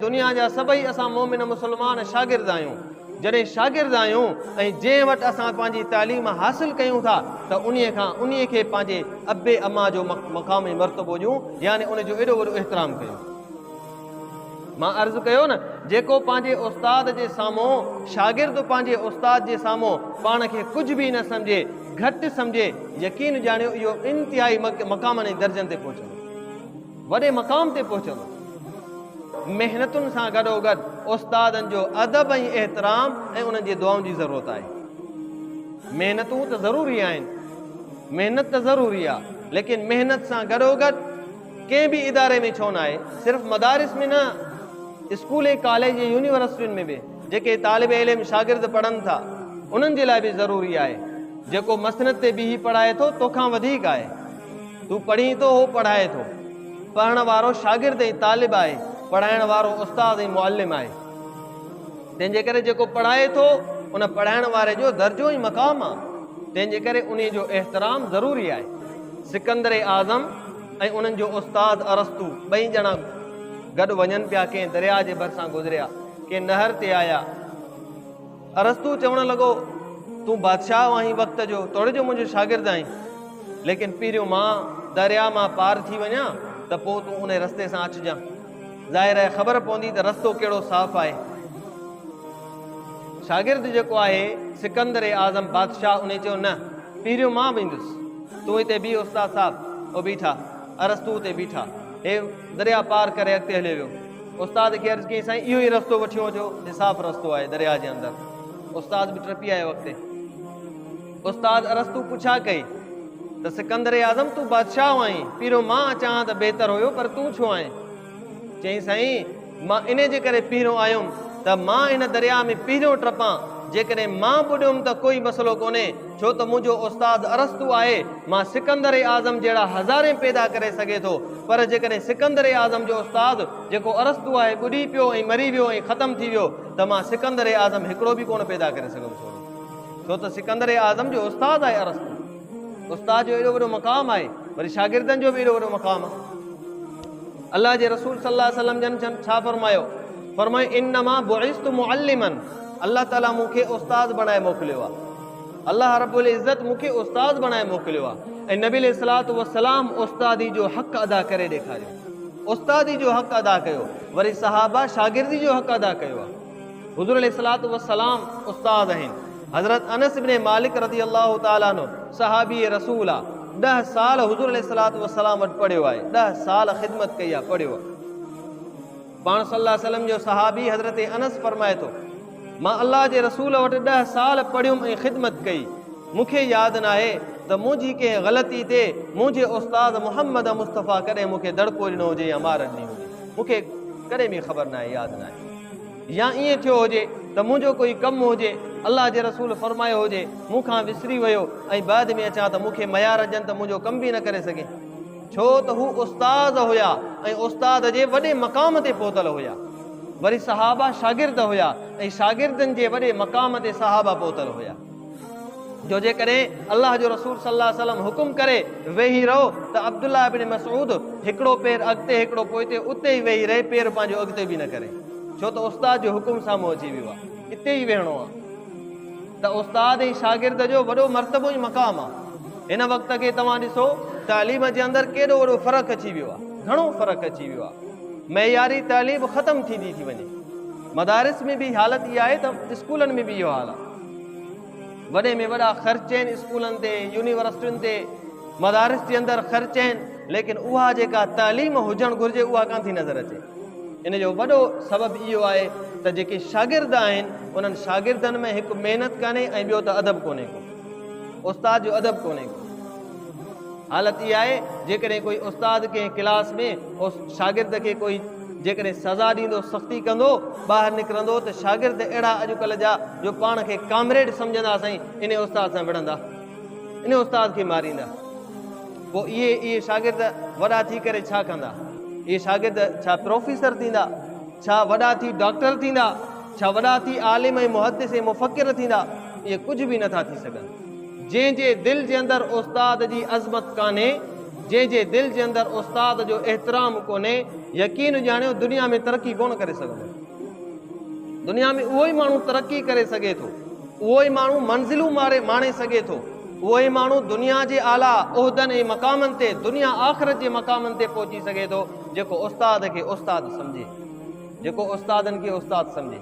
دنيا جا سڀئي اسان مؤمن مسلمان شاگرد آهيون. جڏهن شاگرد آهيون ۽ جنهن وٽ اسان پنهنجي تعليم حاصل ڪيون ٿا ته انهي کان انهي کي پنهنجي اب اما جو مقام ۽ مرتبو ڏيون يعني ان جو ايڏو وڏو احترام ڪيون. مان عرض ڪيو نه جيڪو پنهنجي استاد جي سامهون شاگرد پنهنجي استاد جي سامهون پاڻ کي ڪجهه به نه سمجهي گهٽ سمجهي يقين ڄاڻيو اهو انتهائي مقامن ۽ درجن تي پهچندو. وڏي مقام تي پهچندو. محنتن سان گڏوگڏ استادن جو ادب ۽ احترام ۽ انهن جي دعائن جي ضرورت آهي. محنتون ته ضروري آهن، محنت ته ضروري آ، ليڪن محنت سان گڏوگڏ ڪنهن به اداري ۾ ڇو نه آهي، صرف مدارس ۾ نه اسڪول ۽ ڪاليج ۽ يونيورسٽين ۾ به جيڪي طالب علم شاگرد پڙهن ٿا انهن جي لاء به ضروري آهي. جيڪو مسند تي بيهي پڙهائي ٿو توکان وڌيڪ آهي. تون پڙهين ٿو هو پڙهائي ٿو. پڙهڻ وارو شاگرد ۽ طالب آهي، پڙهائڻ وارو استاد ۽ معلم آهي. تنهن جي ڪري جيڪو پڙهائي ٿو ان پڙهائڻ واري جو درجو ۽ مقام آهي. تنهن جي ڪري انهي جو احترام ضروري آهي. سڪندر اعظم ۽ انهن جو استاد ارسطو ٻئي ڄڻا گڏ وڃن پيا ڪنهن درياء جي ڀرسان گذريا ڪنهن نهر تي آيا. ارسطو چوڻ لڳو، تون بادشاهه آهين وقت جو، توڙي جو منهنجو شاگرد آهين، ليڪن پهريون مان درياء مان پار ٿي وڃان ته پوء تون انهي رستي سان اچجان. ظاهر آهي خبر پوندي ته رستو ڪهڙو صاف آهي. شاگرد جيڪو آهي سڪندر اعظم بادشاهه انهي چيو نه پهريون مان ويندس. تون هتي بيهه استاد صاحب. هو بيٺا. ارسطو اتي بيٺا. هي درياء پار ڪري اڳتي هليو ويو. استاد کي عرض ڪيائين سائين اهو ئي رستو وٺيو هو جو نصاف رستو آهي درياء جي اندر استاد به ٽپي آيو اڳتي استاد ارسطو پڇا ڪئي ته سڪندر اعظم تون بادشاهه آهين پيرو مان اچان ته بهتر هيو پر تون ڇو آئين چئين سائين مان ان جي ڪري پيرو آيم ته مان ان درياء ۾ پيرو ٽپان جيڪڏهن مان ٻڏيم ته ڪوئي مسئلو ڪونهي ڇو ته منهنجو استاد ارسطو آهي، مان سڪندر اعظم جهڙا هزارين پيدا ڪري سگهي ٿو، پر جيڪڏهن سڪندر اعظم جو استاد جيڪو ارسطو آهي ٻڏي پيو ۽ مري ويو ۽ ختم ٿي ويو ته مان سڪندر اعظم هڪڙو به ڪونه پيدا ڪري سگهندس ڇوڙي ڇو ته سڪندر اعظم جو استاد آهي ارسطو استاد جو ايڏو وڏو مقام آهي وري شاگردن جو به ايڏو وڏو مقام آهي الله جي رسول صلي الله عليه وسلم جن ڇا فرمايو فرمايو انما بعثت معلما الله تعالي مون کي استاد بڻائي موڪليو آهي الله رب العزت مون کي استاد بڻائي موڪليو آهي ۽ نبي عليه الصلوۃ والسلام استادي جو حق ادا ڪري ڏيکاريو استادي جو حق ادا ڪيو وري صحابه شاگردي جو حق ادا ڪيو آهي حضور عليه الصلوۃ والسلام استاد آهن حضرت انس ابن مالڪ رضي الله تعالي عنه صحابي رسول آ 10 سال حضور عليه الصلوۃ والسلام وٽ پڙهيو آهي 10 سال خدمت ڪئي آ پڙهيو پاڻ صلي الله عليه وسلم جو صحابي حضرت انس فرمائي ٿو، مان الله جي رسول وٽ ڏهه سال پڙهيم ۽ خدمت ڪئي، مون کي ياد ناهي ته منهنجي ڪنهن غلطي تي منهنجي استاد محمد مصطفيٰ ڪڏهن مون کي دڙڪو ڏنو هجي يا مار ڏني هجي، مون کي ڪڏهن به خبر ناهي، ياد ناهي. يا ائين ٿيو هجي ته منهنجو ڪوئي ڪم هجي، الله جي رسول فرمايو هجي، مون کان وسري ويو ۽ بعد ۾ اچان ته مون کي ميار ڏجن ته منهنجو ڪم به نه ڪري سگهين. ڇو ته هو استاد هيا ۽ استاد جي وڏي مقام تي پهتل هيا وري صحابه شاگرد هيا ۽ شاگردن جي وڏي مقام تي صحابه پهتل هيا جو جيڪڏهن الله جو رسول صلي الله عليه وسلم حڪم ڪري ويهي رهو ته عبدالله ابن مسعود هڪڙو پير اڳتي هڪڙو پوئتي اتي ئي ويهي رهي پير پنهنجو اڳتي به نه ڪري ڇو ته استاد جو حڪم سامهون اچي ويو آهي اتي ئي ويهڻو آهي ته استاد ۽ شاگرد جو وڏو مرتبو ۽ مقام آ. هن وقت کي توهان ڏسو تعليم جي اندر ڪيڏو وڏو فرق اچي ويو آ. گهڻو فرق اچي ويو آ. معياري تعليم ختم ٿيندي ٿي وڃي. مدارس ۾ به حالت اها آهي ته اسڪولن ۾ به اهو حال آ. وڏي ۾ وڏا خرچ آهن اسڪولن تي، يونيورسٽين تي. مدارس جي اندر خرچ آهن ليڪن اها جيڪا تعليم هجڻ گهرجي اها ڪان ٿي نظر اچي ان جو وڏو سبب اهو آهي ته جيڪي شاگرد آهن انهن شاگردن ۾ هڪ محنت ڪانهي ۽ ٻيو ته ادب ڪونهي ڪو استاد جو ادب ڪونهي ڪو حالت اها آهي جيڪڏهن ڪوئي استاد ڪنهن ڪلاس ۾ شاگرد کي ڪوئي جيڪڏهن سزا ڏيندو سختي ڪندو ٻاهر نڪرندو ته شاگرد اهڙا اڄڪلهه جا جو پاڻ کي ڪامريڊ سمجهندا سائين ان استاد سان وڙهندا ان استاد کي ماريندا، پوء اهي اهي شاگرد وڏا ٿي ڪري ڇا ڪندا؟ اهي شاگرد ڇا پروفيسر ٿيندا؟ ڇا وڏا ٿي ڊاڪٽر ٿيندا؟ ڇا وڏا ٿي عالم ۽ محدث ۽ مفڪر ٿيندا؟ اهي ڪجهه به نٿا ٿي سگهن. جنهن جي دل جي اندر استاد جي عظمت ڪانهي، جنهن جي دل جي اندر استاد جو احترام ڪونهي، يقين ڄاڻيو دنيا ۾ ترقي ڪونه ڪري سگهندو. دنيا ۾ اهو ئي ماڻهو ترقي ڪري سگهي ٿو. اهو ئي ماڻهو منزلون ماري ماڻي سگهي ٿو. اهو ئي ماڻهو دنيا جي اعليٰ عهدن ۽ مقامن تي، دنيا آخرت جي مقامن تي پهچي سگهي ٿو، جيڪو استاد کي استاد سمجهي. جيڪو استادن کي استاد سمجهي.